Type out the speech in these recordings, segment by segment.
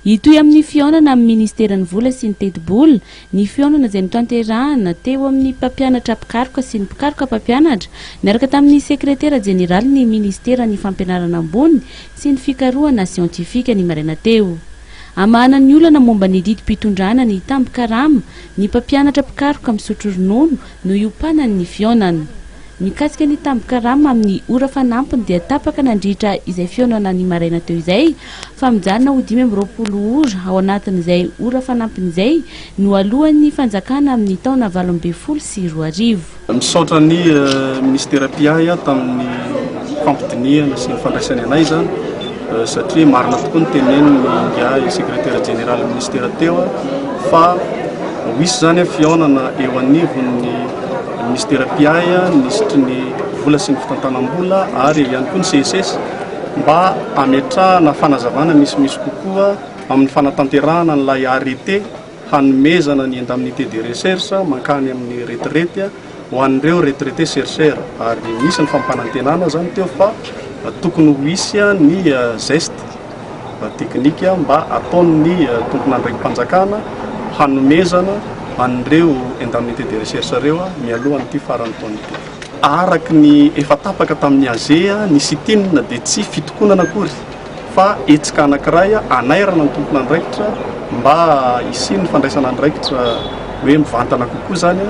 Hitohy amin'ny fihaonana amin'ny Ministeran'ny Vola sy ny Tetibola ny fihaonana izay notanterahana teo amin'ny mpampianatra mpikaroka sy ny mpikaroka mpampianatra niaraka tamin'ny Sekretera Jeneralin'ny Ministeran'ny Fampianarana Ambony sy ny Fikarohana Siantifika ny maraina teo. Amahana ny olana momba ny didim-pitondrana ny tambin-karama ny mpampianatra mpikaroka misotro ronono no hiompanan'ny fihaonana. Mikasika ny tambin-karama amin'ny ora fanampiny dia tapaka nandritra izay fihaonana ny maraina teo izay fa mijanona ho dimy amby roapolo ora ao anatin'izay ora fanampiny izay noaloan'ny fanjakana amin'ny taona valo ambin'ny folo sy roa arivo. Misaotra ny Minisitera mpiahy tamin'ny fampidinihana sy ny fandraisany anay izany. satria marina tokoa ny tenenin'ny ingahy sekretera jeneralin'ny minisitera teo fa ho hisy izany ny fihaonana eo anivon'ny minisitera mpiahy ny minisitry ny vola sy ny fitantanam-bola ary eo ihany koa ny CSS mba hametrahana fanazavana misimisy kokoa amin'ny fanatanterahana an'ilay arrêté hanomezana ny indemnité de recherche mankany amin'ny retraite ho an'ireo retraité chercheur ary nisy ny fampanantenana izany teo fa tokony ho hisy ny geste technique mba ataon'ny tompon'andraiki-panjakana hanomezana an'ireo indemnité de recherche ireo mialohan'ity faran'ny taona ity. Araka ny efa tapaka tamin'ny AG, ny sit-in dia tsy fitokonana akory. fa hetsika anankiray hanairana ny tompon'andraikitra mba hisian'ny fandraisana andraikitra hoe mivantana kokoa izany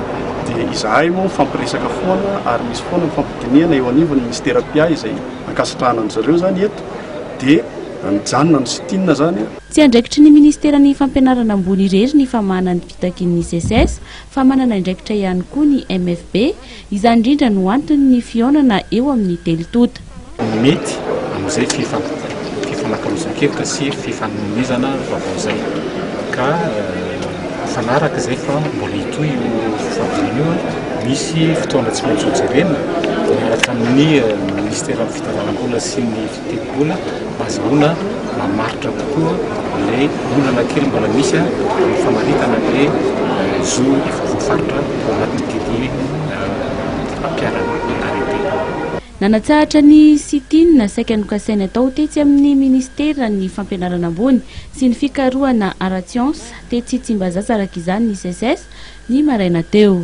dia izahay moa mifampiresaka foana ary misy foana mifampidinihana eo anivon'ny ministera PA izay ankasitrahana an'izy ireo izany eto dia mijanona ny sit-in izany. Tsy andraikitry ny ministeran'ny fampianarana ambony irery ny famahana ny fitakian'ny SECES fa manana indraikitra ihany koa ny MFB Izany indrindra no antony ny fihaonana eo amin'ny telo tonta. Mety amin'izay fifanakalozan-kevitra sy fifanomezana vaovao izay, ka mifanaraka izay fa mbola hitohy io fifampidirana io. Misy fotoana tsy maintsy hojerena miaraka amin'ny Minisiteran'ny Fitadiavam-bola sy ny. dia mbola azahoana mamaritra kokoa ilay olana kely mbola misy amin'ny famaritana ny zo voafaritra ao anatin'ity fampiharana tantara ity. Nanatsahatra ny sit-in saika nokasainy atao tetsy amin'ny Minisiteran'ny Fampianarana ambony sy ny Fikarohana ara-tsiansa tetsy Tsimbazaza araka izany ny Seces, ny maraina teo.